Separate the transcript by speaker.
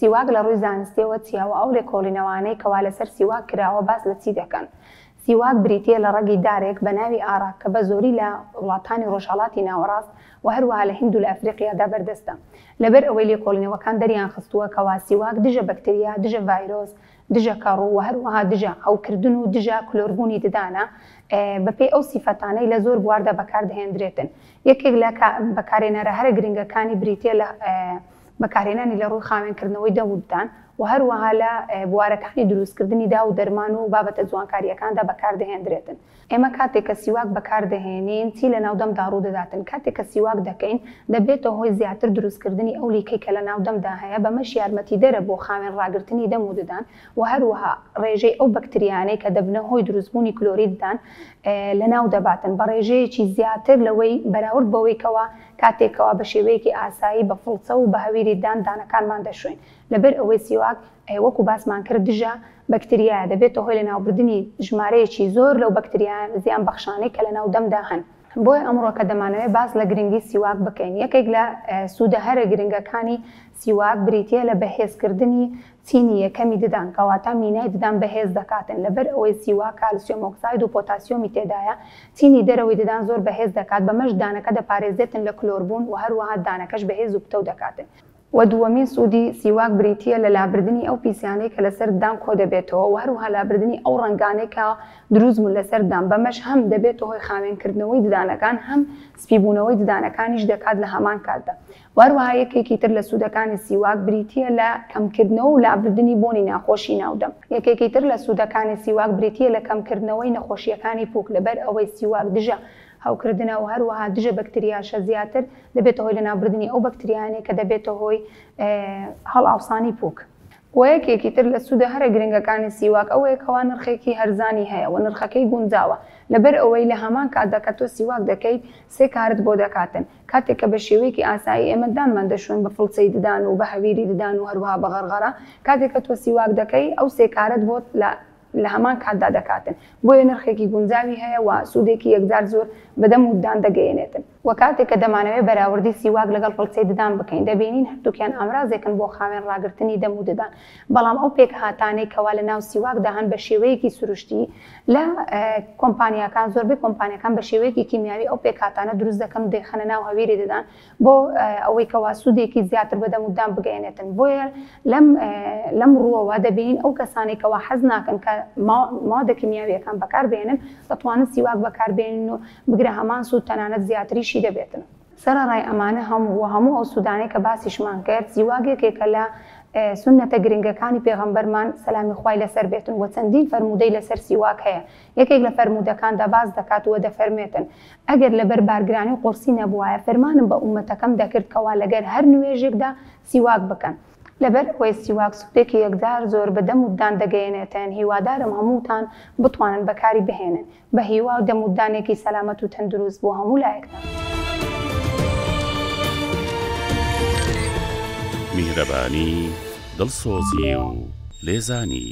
Speaker 1: سیواک لە ڕووی زانستیەوە چیە وە ئەو لێکۆڵینەوانەی کەوا لەسەر سیواک کراوە باس لە چی دەکەن؟ سیواک بریتیە لە ڕەگی دارێک بە ناوی ئاراک کە بە زۆری لە وڵاتانی ڕۆژهەڵاتی ناوەڕاست وە هەروەها لە هیند و لە ئەفریقیادا بەردەستە لەبەر ئەوەی لێکۆڵینەوەکان دەریان خستووە کەوا سیواک دژە بەکتریا دژە ڤایرۆس دژە کەڕوو وە هەروەها دژە عەو کردن و دژە کلۆر بوونی ددانە بە پێی ئەو سیفەتانەی لە زۆر بواردا بەکار دەهێندرێتن یەکێک لە بەکارێنەرە هەرە گرنگەکانی بریتیە لە بەکارهێنانی لە ڕووی خاوێنکردنەوەی دەم و ددان و هەروەها لە بوارەکانی دروستکردنی داو و دەرمان و بابەتە جوانکارییەکاندا بەکاردەهێندرێتن. ئێمە کاتێک کە سیواک بەکاردەهێنین چی لەناو دەمدا ڕوودەداتن؟ کاتێک کە سیواک دەکەین دەبێتە هۆی زیاتر دروستکردنی ئەو لیکەی کە لەناو دەمدا هەیە بەمەش یارمەتیدەرە بۆ خاوێن ڕاگرتنی دەم و ددان و هەروەها ڕێژەی ئەو بەکتریایانەی کە دەبنە هۆی دروستبوونی کلۆری ددان لەناودەباتن بە ڕێژەیەکی زیاتر لەوەی بەراورد بەوەی کەوا کاتێک کەوا بە شێوەیەکی ئاسایی بە فڵچە و بە هەویری دان دانەکانمان دەشۆین لەبەر ئەوەی سیواک ە وەکو باسمان کرد دژە بەکتریایە دەبێتە هۆی لەناوبردنی ژمارەیەکی زۆر لەو بەکتریایە زیان بەخشانەی کە لەناو دەمدا هەن. بۆیە ئەمڕۆ کە دەمانەوێت باس لە گرنگی سیواک بکەین یەکێک لە سودە هەرە گرنگەکانی سیواک بریتیە لە بەهێزکردنی چینی یەکەمی ددان کەواتە مینای ددان بەهێز دەکاتن لەبەر ئەوەی سیوا کالسیۆم ئۆکساید و پۆتاسیۆمی تێدایە چینی دەرەوەی ددان زۆر بەهێز دەکات بەمەش ددانەکە دەپارێزێتن لە کلۆر بوون وە هەروەها ددانەکەش بەهێز و پتەو دەکاتن. وە دووەمین سوودی سیواک بریتییە لە لابردنی ئەو پیسیانەی کە لەسەر ددان کۆدەبێتەوە وە هەروەها لابردنی ئەو ڕەنگانەی کە دروست بوون لەسەر ددان بەمەش هەم دەبێتە هۆی خاوێنکردنەوەی ددانەکان هەم سپی بوونەوەی ددانەکانیش دەکات لە هەمان کاتدا و هەروەها یەکێکی تر لە سوودەکانی سیواک بریتییە لە کەمکردنەوە و لابردنی بۆنی ناخۆشی ناو دەم. یەکێکی تر لە سوودەکانی سیواک بریتییە لە کەمکردنەوەی نەخۆشییەکانی پووک، لەبەر ئەوەی سیواک دژە هەوکردنە و هەروەها دژە بەکتریاشە، زیاتر دەبێتە هۆی لەناوبردنی ئەو بەکتریایانەی کە دەبێتە هۆی هەڵئاوسانی پووک. و یەکێکی تر لە سوودە هەرە گرنگەکانی سیواک ئەوەیە کەوا نرخێکی هەرزانی هەیە و نرخەکەی گونجاوە، لەبەر ئەوەی لە هەمان کاتدا کە تۆ سیواک دەکەیت سێ کارت بۆ دەکاتن، کاتێک کە بە شێوەیەکی ئاسایی ئێمە دانمان دەشۆین بە فڵچەی ددان و بە هەویری ددان و هەروەها بە غەرغەرە، کاتێک کە تۆ سیواک دەکەی ئەو سێ کارەت بۆ لە لە هەمان کاتدا دەکاتن، بۆیە نرخێکی گونجاوی هەیە و سوودێکی یەکجار زۆر بە دەم و ددان دەگەیەنێتن. وە کاتێک کە دەمانەوێت بەراوردی سیواک لەگەڵ فڵچەی ددان بکەین، دەبینین هەردووکیان ئامرازێکن بۆ خاوێن ڕاگرتنی دەم و ددان، بەڵام ئەو پێکهاتانەی کەوا لە ناو سیواکدا هەن بە شێوەیەکی سروشتی لە کۆمپانیاکان زۆربەی کۆمپانیاکان بە شێوەیەکی کیمیاوی ئەو پێکهاتانە دروست دەکەن و دەیخەنە ناو هەویری دەدان بۆ ئەوەی کەوا سوودێکی زیاتر بە دەم و ددان بگەیەنێتن بۆیە لەم لەم ڕووەوە دەبینین ئەو کەسانەی کەوا حەز ناکەن کە مادە کیمیاویەکان بەکار بێنن دەتوانن سیواک بەکار بێنن و بگرە هەمان سوود تەنانەت زیاتریشی دەبێتن. سەرەڕای ئەمانە هەموو و هەموو ئەو سوودانەی کە باسیشمان کرد، زیواگ یەکێکە لە سوننەتە گرنگەکانی پێغەمبەرمان، سەلامی خوای لەسەر بێتن، و چەندین فەرموودەی لەسەر سیواک هەیە، یەکێک لە فەرموودەکاندا باس دەکات و دەفەرمێتن، ئەگەر لەبەر بارگرانی و قورسی نەبووایە فرمانم بە ئوممەتەکەم دەکرد کەوا لەگەر هەر نوێژێکدا سیواک بکەن، لەبەر ئەوەی سیواک سوودێکی یەکجار زۆر بە دەم و ددان دەگەیەنێتن، هیوادارم هەمووتان بتوانن بەکاری بهێنن، بە هیوا و دەمودانێکی سەلامەت و تەندروست بۆ هەموو لایەکتان.
Speaker 2: میهرەبانی، دڵسۆزی و لێزانی.